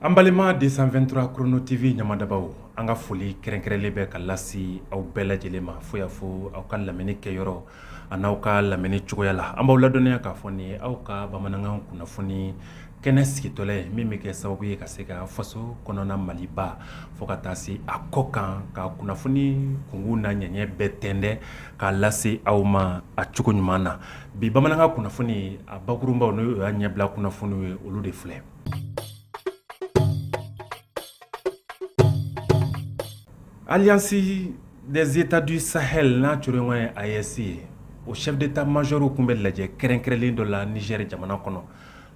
An balima deux cent vingt-trois Chrono TV ɲamadabaw an ka foli kɛrɛnkɛrɛnlen bɛ ka lase aw bɛɛ lajɛlen ma fo y'a fɔ aw ka lamɛnni kɛyɔrɔ an'aw ka lamɛnni cogoya la an b'aw ladɔnniya k'a fɔ nin aw ka bamanankan kunnafoni kɛnɛ sigitɔla ye min bɛ kɛ sababu ye ka se ka faso kɔnɔna Maliba fo ka taa se a kɔkan ka kunnafoni kunkun n'a ɲɛɲɛ bɛɛ tɛntɛ k'a lase aw ma a cogo ɲuman na bi bamanankan kunnafoni a bakurunbaw n'o y'a ɲɛbila kunnafoniw ye olu de filɛ Alliance des États du Sahel n'a coro ɲɔgɔn ye AES ye o chef d'état-majorw tun bɛ lajɛ kɛrɛnkɛrɛnlen dɔ la Niger jamana kɔnɔ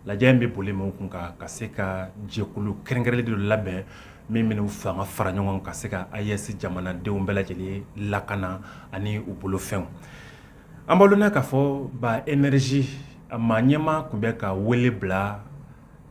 lajɛ in bɛ boli min kun kan ka se ka jɛkulu kɛrɛnkɛrɛnlen dɔ labɛn min bɛn'u fanga fara ɲɔgɔn ka se ka AES jamanadenw bɛɛ lajɛlen lakana ani u bolofɛnw An b'aw lajɛ k'a fɔ ba énergie a maa ɲɛmaa tun bɛ ka wele bila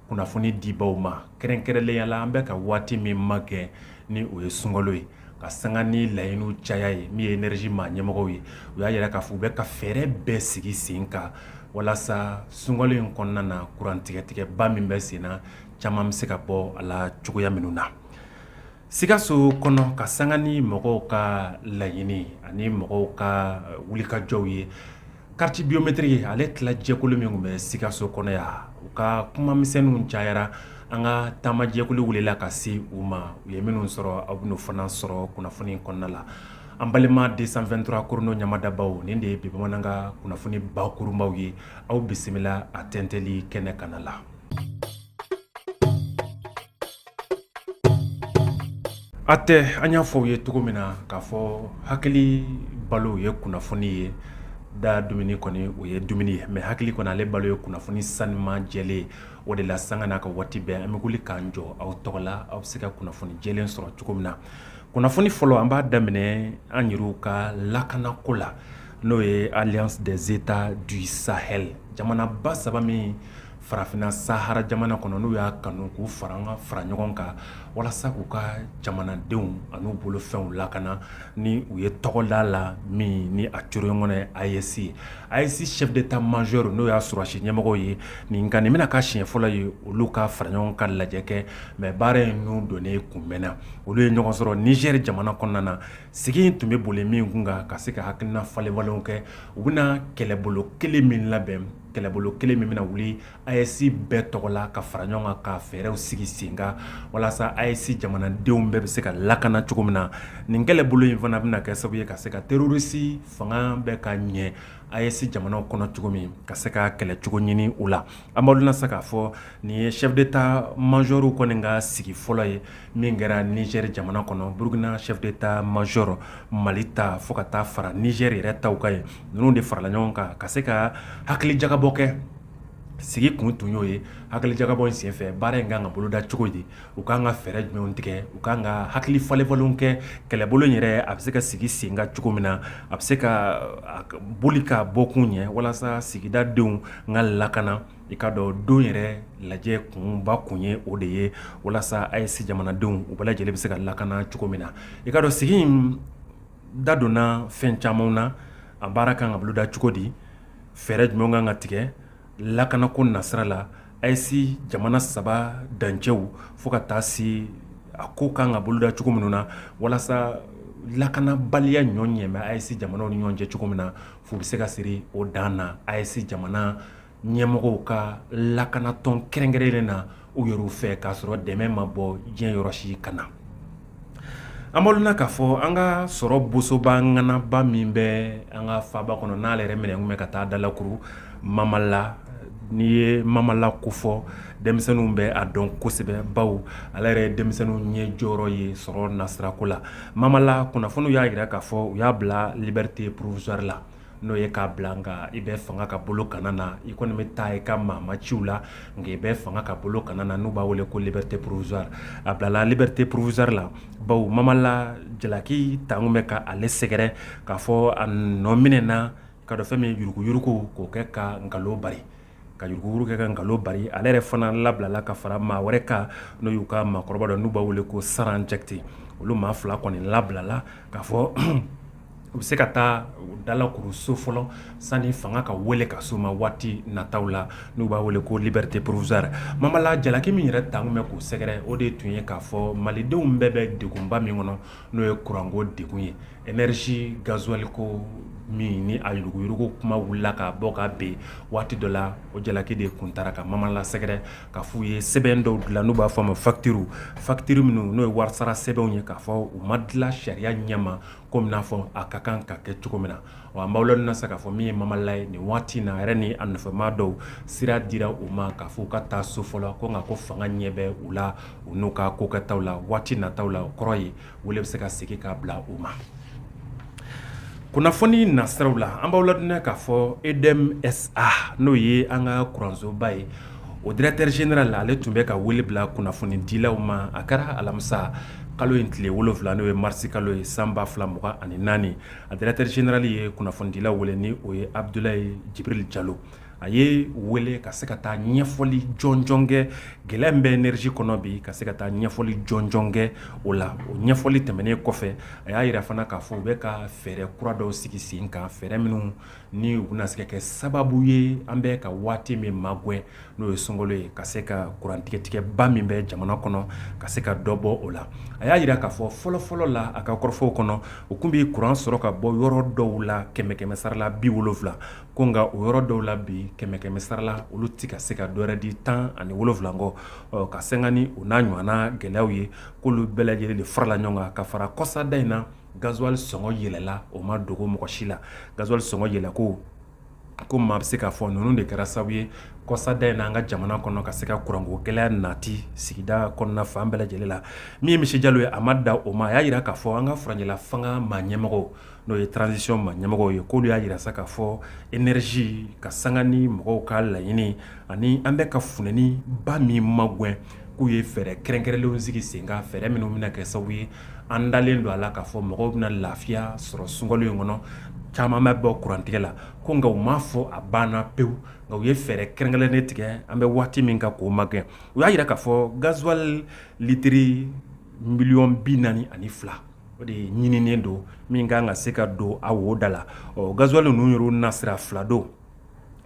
kunnafoni dibaw ma kɛrɛnkɛrɛnlenya la an bɛ ka waati min magɛn ni o ye sunkalo ye ka sanga ni laɲiniw caya ye min ye énergie maa ɲɛmɔgɔw ye u y'a yira k'a fɔ u bɛ ka fɛɛrɛ bɛɛ sigi sen kan walasa sunkalo in kɔnɔna na kurantigɛtigɛba min bɛ senna caman bɛ se ka bɔ a la cogoya minnu na Sikaso kɔnɔ ka sanga ni mɔgɔw ka laɲini ani mɔgɔw ka wulikajɔw ye carte biométrique ale tilajɛkulu min tun bɛ Sikaso kɔnɔ yan u ka kumamisɛnninw cayara an ka taamajɛkulu wulila ka se u ma u ye minnu sɔrɔ aw bɛn'u fana sɔrɔ kunnafoni kɔnɔna la an balima deux cent vingt-trois Chrono ɲamadabaw nin de ye bi bamanankan kunnafoni bakurunbaw ye aw bisimila a tɛntɛli kɛnɛ kanna la A tɛ an y'a fɔ aw ye cogo min na k'a fɔ hakili balo ye kunnafoni ye da dumuni kɔni o ye dumuni ye mais hakili kɔni ale balo ye kunnafoni sanuman jɛlen ye o de la sanga n'a ka waati bɛɛ an bɛ wuli k'an jɔ aw tɔgɔ la aw bɛ se ka kunnafoni jɛlen sɔrɔ cogo min na kunnafoni fɔlɔ an b'a daminɛ an yɛrɛw ka lakanako la n'o ye Alliance des États du Sahel jamanaba saba min farafinna Sahara jamana kɔnɔ n'u y'a kanu k'u fanga fara ɲɔgɔn kan walasa k'u ka jamanadenw an'u bolofɛnw lakana ni u ye tɔgɔ d'a la min ni a coro ɲɔgɔn ye AES ye AES chef d'état-major n'o y'a sɔrɔdasi ɲɛmɔgɔw ye nin bɛna k'a siɲɛ fɔlɔ ye olu ka fara ɲɔgɔn ka lajɛ kɛ mais baara in n'u donnen kunbɛnna olu ye ɲɔgɔn sɔrɔ Niger jamana kɔnɔna na sigi in tun bɛ boli min kun kan ka se ka hakilina falenfalenw kɛ u bɛna kɛlɛbolo kelen min labɛn kɛlɛbolo kelen min bɛna wuli AES bɛɛ tɔgɔ la ka fara ɲɔgɔn kan ka fɛɛrɛw sigi sen kan walasa AES jamanadenw bɛɛ bɛ se ka lakana cogo min na nin kɛlɛbolo in fana bɛna kɛ sababu ye ka se ka terrorisi fanga bɛɛ ka ɲɛ AES jamanaw kɔnɔ cogo min ka se ka kɛlɛ cogo ɲini u la an b'aw ladɔnniya sa k'a fɔ nin ye chef d'Etat major kɔni ka sigi fɔlɔ ye min kɛra Niger jamana kɔnɔ Burkina chef d'Etat major Mali ta fo ka taa fara Niger yɛrɛ taw kan yen ninnu de farala ɲɔgɔn kan ka se ka hakili jagabɔ kɛ sigi kun tun y'o ye hakili jagabɔ in senfɛ baara in kan ka boloda cogo di u kan ka fɛɛrɛ jumɛn tigɛ u kan ka hakili falenfalen kɛ kɛlɛbolo yɛrɛ a bɛ se ka sigi sen kan cogo min na a bɛ se ka boli ka bɔ kun ɲɛ walasa sigidadenw n ka lakana i k'a dɔn don yɛrɛ lajɛ kunba kun ye o de ye walasa AES jamanadenw u bɛɛ lajɛlen bɛ se ka lakana cogo min na i k'a dɔn sigi Da donna fɛn camanw na a baara kan ka boloda cogo di fɛɛrɛ jumɛnw kan ka tigɛ lakanako nasira la AES jamana saba dancɛw fo ka taa se a ko kan ka boloda cogo minnu na walasa lakanabaliya ɲɔ ɲɛ bɛ AES jamanaw ni ɲɔgɔn cɛ cogo min na fu bɛ se ka siri o dan na AES jamana ɲɛmɔgɔw ka lakanatɔn kɛrɛnkɛrɛnlen na u yɛrɛw fɛ k'a sɔrɔ dɛmɛ ma bɔ diɲɛ yɔrɔ si ka na an b'aw ladɔnniya k'a fɔ an ka sɔrɔ bosoba ŋanaba min bɛ an ka faaba kɔnɔ n'ale yɛrɛ minɛ kun bɛ ka taa dalakuru Mamala n'i ye Mamala ko fɔ denmisɛnninw bɛ a dɔn kosɛbɛ baw ale yɛrɛ ye denmisɛnninw ɲɛ jɔyɔrɔ ye sɔrɔ nasirako la Mamala kunnafoniw y'a jira k'a fɔ u y'a bila liberté provisoire la n'o ye k'a bila nka i bɛ fanga ka bolo kana na i kɔni bɛ taa i ka maama ciw la nka i bɛ fanga ka bolo kana na n'u b'a wele ko liberté provisoire a bilala liberté provisoire la baw Mamala jalaki taalen kun bɛ ka ale sɛgɛrɛ k'a fɔ a nɔ minɛna i k'a dɔn fɛn min yuruguyurugu k'o kɛ ka nkalon bari ka yuruguyurugu kɛ ka nkalon bari ale yɛrɛ fana labilala ka fara maa wɛrɛ kan n'o y'u ka maakɔrɔba dɔ n'u b'a wele ko Saran Jakite olu maa fila kɔni labilala k'a fɔ u bɛ se ka taa dalakuru so fɔlɔ sani fanga ka wele ka s'u ma waati nataw la n'u b'a wele ko liberté provisoire Mamala jalaki min yɛrɛ taalen kun bɛ k'u sɛgɛrɛ o de tun ye k'a fɔ malidenw bɛɛ bɛ degunba min kɔnɔ n'o ye kuranko degun ye Energie gasoil ko min ni a yuruguyurugu kuma wulila ka bɔ ka bɛn waati dɔ la, o jalaki de kun taara ka Mamala sɛgɛrɛ k'a f'u ye sɛbɛn dɔw dilan n'u b'a fɔ a ma facture, facture minnu n'o ye warisara sɛbɛnw ye k'a fɔ u ma dilan sariya ɲɛma comme i n'a fɔ a ka kan ka kɛ cogo min na, wa an b'aw ladɔnniya sisan k'a fɔ min ye Mamala ye nin waati in na a yɛrɛ ni a nɔfɛmaa dɔw sira dira u ma k'a fɔ u ka taa so fɔlɔ ko nka ko fanga ɲɛ bɛ u la u n'u ka kokɛtaw la waati nataw la o kɔrɔ ye wele bɛ se ka segin k'a bila u ma kunnafoni nasiraraw la an b'aw ladɔnniya k'a fɔ EDM-SA n'o ye an ka kuransoba ye o directeur général ale tun bɛ ka wele bila kunnafonidilaw ma a kɛra alamisa kalo in tile wolonwula n'o ye marisi kalo ye san ba fila mugan ani naani a directeur général ye kunnafonidilaw wele ni o ye abudulayi jibiril jalo a ye wele ka se ka taa ɲɛfɔli jɔnjɔn kɛ gɛlɛya min bɛ énergie kɔnɔ bi ka se ka taa ɲɛfɔli jɔnjɔn kɛ o la o ɲɛfɔli tɛmɛnen kɔfɛ a y'a yira fana k'a fɔ u bɛ ka fɛɛrɛ kura dɔw sigi sen kan fɛɛrɛ minnu ni u bɛna se ka kɛ sababu ye an bɛ ka waati min magwɛ n'o ye sunkalo ye ka se ka kurantigɛtigɛba min bɛ jamana kɔnɔ ka se ka dɔ bɔ o la a y'a yira k'a fɔ fɔlɔfɔlɔ la a ka kɔrɔfɔw kɔnɔ u kun bɛ kuran sɔrɔ ka bɔ yɔrɔ dɔw la kɛmɛ kɛmɛsara la bi wolonwula ko nka o yɔrɔ dɔw la bi kɛmɛ kɛmɛsara la olu tɛ ka se ka dɔwɛrɛ di tan ani wolonwula kɔ ɔ, ka sanga ni o n'a ɲɔgɔnna gɛlɛyaw ye k'olu bɛɛ lajɛlen de farala ɲɔgɔn kan ka fara kɔsada in na gazuwali sɔngɔ yɛlɛla o ma dogo mɔgɔ si la gazuwali sɔngɔ yɛlɛko ko maa bɛ se k'a fɔ ninnu de kɛra sababu ye kɔsada in n'an ka jamana kɔnɔ ka se ka kuranko gɛlɛya nati sigida kɔnɔna fan bɛɛ lajɛlen la min ye monsieur jalo ye a ma da o ma a y'a yira k'a fɔ an ka furancɛla fanga maa ɲɛmɔgɔ n'o ye transition maa ɲɛmɔgɔw ye k'olu y'a yira sa k'a fɔ énergie ka sanga ni mɔgɔw ka laɲini ani an bɛ ka funɛniba min magɛn k'u ye fɛɛrɛ kɛrɛnkɛrɛnnen sigi sen kan fɛɛrɛ minnu bɛna kɛ sababu ye an dalen don a la k'a fɔ mɔgɔw bɛna lafiya sɔrɔ sunkalo in kɔnɔ caman bɛ bɔ kurantigɛ la ko nka u m'a fɔ a banna pewu nka u ye fɛɛrɛ kɛrɛnkɛrɛnnen tigɛ an bɛ waati min kan k'o magɛn u y'a yira k'a fɔ gazuwali litiri miliyɔn bi naani ani fila o de ɲininen don min ka kan ka se ka don a wo da la ɔ gazuwali ninnu yɛrɛ nasira fila don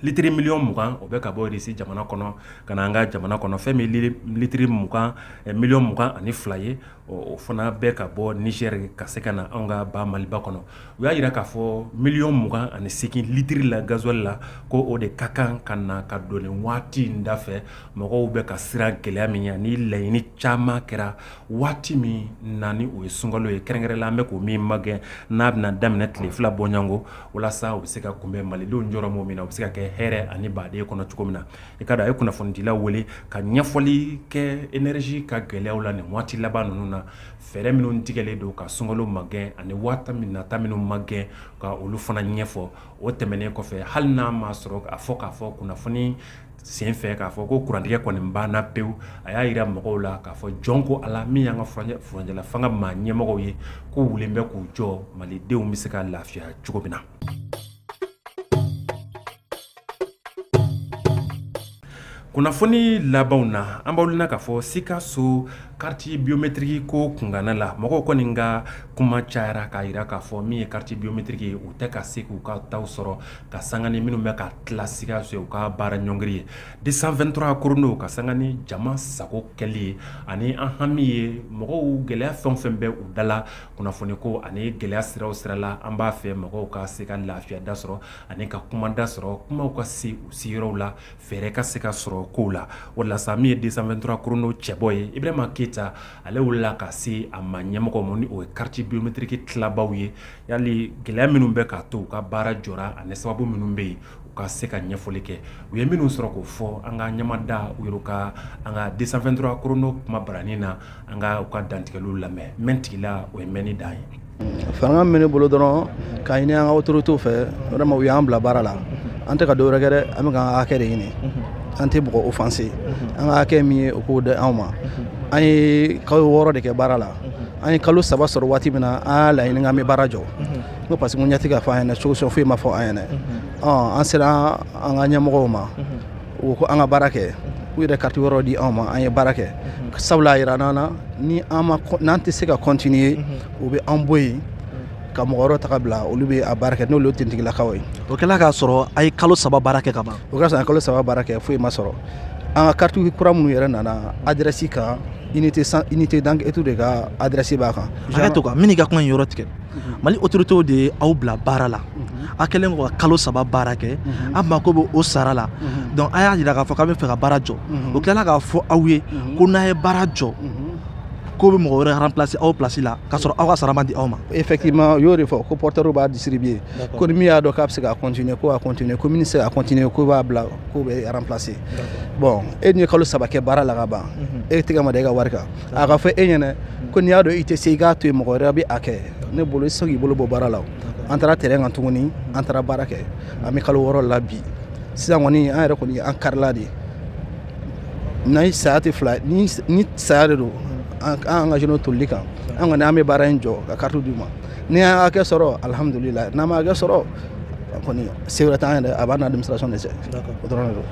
litiri miliyɔn mugan o bɛ ka bɔ irisi jamana kɔnɔ ka na an ka jamana kɔnɔ fɛn min litiri miliyɔn mugan ani fila ye o fana bɛ ka bɔ niger ka se ka na an ka ba maliba kɔnɔ u y'a yira k'a fɔ miliyɔn mugan ani segin litiri la gazuwali la ko o de ka kan ka na ka don nin waati in dafɛ mɔgɔw bɛ ka siran gɛlɛya min ɲɛ ni laɲini caman kɛra waati min na ni o ye sunkalo ye kɛrɛnkɛrɛn la an bɛ k'o min magɛn n'a bɛna daminɛ tile fila bɔɲɔgɔnko walasa u bɛ se ka kunbɛn malidenw jɔrɔ min min na u bɛ se ka kɛ hɛrɛ ani baden kɔnɔ cogo min na i k'a dɔn a ye kunnafonidilaw wele ka ɲɛfɔli kɛ énergie ka gɛlɛya la nin waati laban ninnu na fɛɛrɛ minnu tigɛlen don ka sunkalo magɛn ani waati min nata minnu magɛn ka olu fana ɲɛfɔ o tɛmɛnen kɔfɛ hali n'a ma sɔrɔ a fɔ k'a fɔ kunnafoni Sen fɛ k'a fɔ ko kurantigɛ kɔni banna pewu a y'a jira mɔgɔw la k'a fɔ jɔn ko Ala min y'an ka furancɛla fanga maa ɲɛmɔgɔw ye k'u wulilen bɛ k'u jɔ malidenw bɛ se ka lafiya cogo min na kunnafoni labanw na an b'aw na k'a fɔ sikaso kariti biometiriki ko kunkanna la mɔgɔw kɔni ka kuma cayara k'a jira k'a fɔ min ye kariti biometiriki ye u tɛ ka se k'u ka taw sɔrɔ ka sanga ni minnu bɛ ka tila sikaso u ka baara ɲɔngiri ye deux cent vingt-trois korondo ka sanga ni jama sago kɛli ye ani an hami ye mɔgɔw gɛlɛya fɛn o fɛn bɛ u dala kunnafoni ko ani gɛlɛya siraw sirala an b'a fɛ mɔgɔw ka se ka lafiya da sɔrɔ ani ka kuma da sɔrɔ kuma ka se u sigiyɔrɔw la fɛɛrɛ ka se ka sɔrɔ kow la o la sa min ye deux cent vingt-trois korondo cɛbɔ ye Ibrahima Keyita ale wulila ka se a ma ɲɛmɔgɔ ma ni o ye kariti biometiriki tilabaw ye Yali gɛlɛya minnu bɛ k'a to u ka baara jɔra ani sababu minnu bɛ yen u ka se ka ɲɛfɔli kɛ u ye minnu sɔrɔ k'o fɔ an ka ɲɛ mada u yɛrɛ kan an ka deux cent vingt-trois korondo kuma baranin na an ka u ka dantigɛliw lamɛn mɛn tigi la o ye mɛnni dan ye fanga minɛ bolo dɔrɔn ka ɲini an ka autorités fɛ vraiment u y'an bila baara la an tɛ ka dɔwɛrɛ kɛ dɛ an bɛ k'an ka hakɛ de ɲini an tɛ mɔgɔ offenser an ka hakɛ min ye u k'o di anw ma an ye kalo wɔɔrɔ de kɛ baara la an ye kalo saba sɔrɔ waati min na an y'a laɲini k'an bɛ baara jɔ n ko parce que n ɲɛ tɛ ka fɔ an ɲɛna solution foyi ma fɔ an ɲɛna an sera an ka ɲɛmɔgɔw ma u ko an ka baara kɛ u yɛrɛ kariti wɛrɛ di anw ma an ye baara kɛ sabula a jirala an na ni n'an tɛ se ka continuer u bɛ an bɔ yen ka mɔgɔ wɛrɛ ta bila olu bɛ a baara kɛ n'olu ye kintigilakaw ye o kɛlen k'a sɔrɔ an ye kalo saba baara kɛ ka ban o k'a sɔrɔ an ye kalo saba baara kɛ foyi ma sɔrɔ an ka kariti kura minnu yɛrɛ nana adrɛsi kan unité d'enquête de ka adrɛsi b'a kan hakɛ to kan n b'i ka kuma in yɔrɔ tigɛ mhm. mali autoritew de ye aw bila baara la mhm. a kɛlen kɔ ka kalo saba baara kɛ mhm. aw mako bɛ o sara la donc a y'a jira k'a fɔ k'a bɛ fɛ ka baara jɔ o tilala k'a fɔ aw ye ko n'a ye baara jɔ k'u bɛ mɔgɔ wɛrɛ remplacer aw place la k'a sɔrɔ aw ka sara ma di aw ma effectivement u y'o de fɔ ko porteur b'a distribuer ko ni min y'a dɔn k'a bɛ se ka continuer ko a continuer ko min tɛ se ka continuer ko b'a bila k'u bɛ remplacer bon e dun ye kalo saba kɛ baara la ka ban e tɛgɛ ma da e ka wari kan a ka fɔ e ɲɛna ko n'i y'a dɔn i tɛ se i k'a to yen mɔgɔ wɛrɛ bɛ a kɛ ne bolo i tɛ se k'i bolo bɔ baara la o an taara terrain kan tuguni an taara baara kɛ an bɛ kalo wɔɔrɔ la bi sisan kɔni an yɛrɛ kɔni an karila de ni saya tɛ fila ni saya de don an ka engagé n'o tolili kan an kɔni an bɛ baara in jɔ ka carte d'u ma n'an y'an hakɛ sɔrɔ alihamudulilayi n'an ma hakɛ sɔrɔ kɔni se wɛrɛ t'an yɛrɛ a b'an n'administration de cɛ o dɔrɔn de don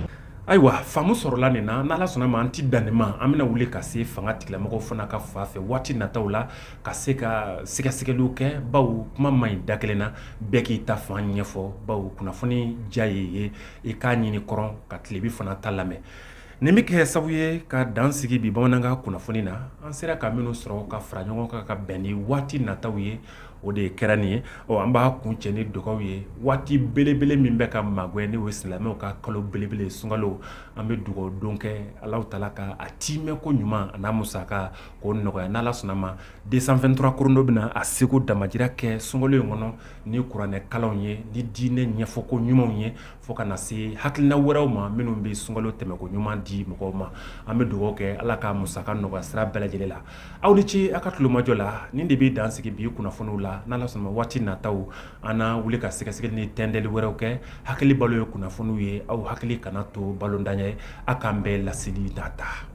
ayiwa faamu sɔrɔla nin na n'ala sɔnna ma an ti dan nin ma an bɛna wuli ka se fanga tigilamɔgɔw fana ka fan fɛ waati nataw la ka se ka sɛgɛsɛgɛliw kɛ bawo kuma man ɲi da kelen na bɛɛ k'i ta fan ɲɛfɔ bawo kunnafoni diya ye ye i k'a ɲini kɔrɔn ka tilebin fana ta lamɛn Nin bɛ kɛ sabu ye ka dan sigi bi bamanankan kunnafoni na an sera ka minnu sɔrɔ ka fara ɲɔgɔn kan ka bɛn ni waati nataw ye o de kɛra nin ye ɔ an b'a kuncɛ ni dugawu ye waati belebele min bɛ ka magɛn n'o ye silamɛw ka kalo belebele sunkalo an bɛ dugawu don kɛ ala taala ka a tɛmɛko ɲuman a n'a musakako nɔgɔya n'ala sɔnna ma deux cent vingt-trois kodo bɛna a seko damajira kɛ sunkalo in kɔnɔ ni kuranɛkalanw ye ni diinɛ ɲɛfɔko ɲumanw ye fo ka na se hakilina wɛrɛw ma minnu bɛ sunkalo tɛmɛko ɲuman di mɔgɔw ma an bɛ dugawu kɛ ala ka musaka nɔgɔya sira bɛɛ lajɛlen la aw ni ce aw ka tulomajɔ la nin de bɛ dan sigi bi kunnafoniw la n'ala sɔnna waati nataw an na wuli ka sɛgɛsɛgɛli ni tɛntɛnni wɛrɛw kɛ hakili balo ye kunnafoniw ye aw hakili kana to balotan ye aw k'an bɛn laseli nata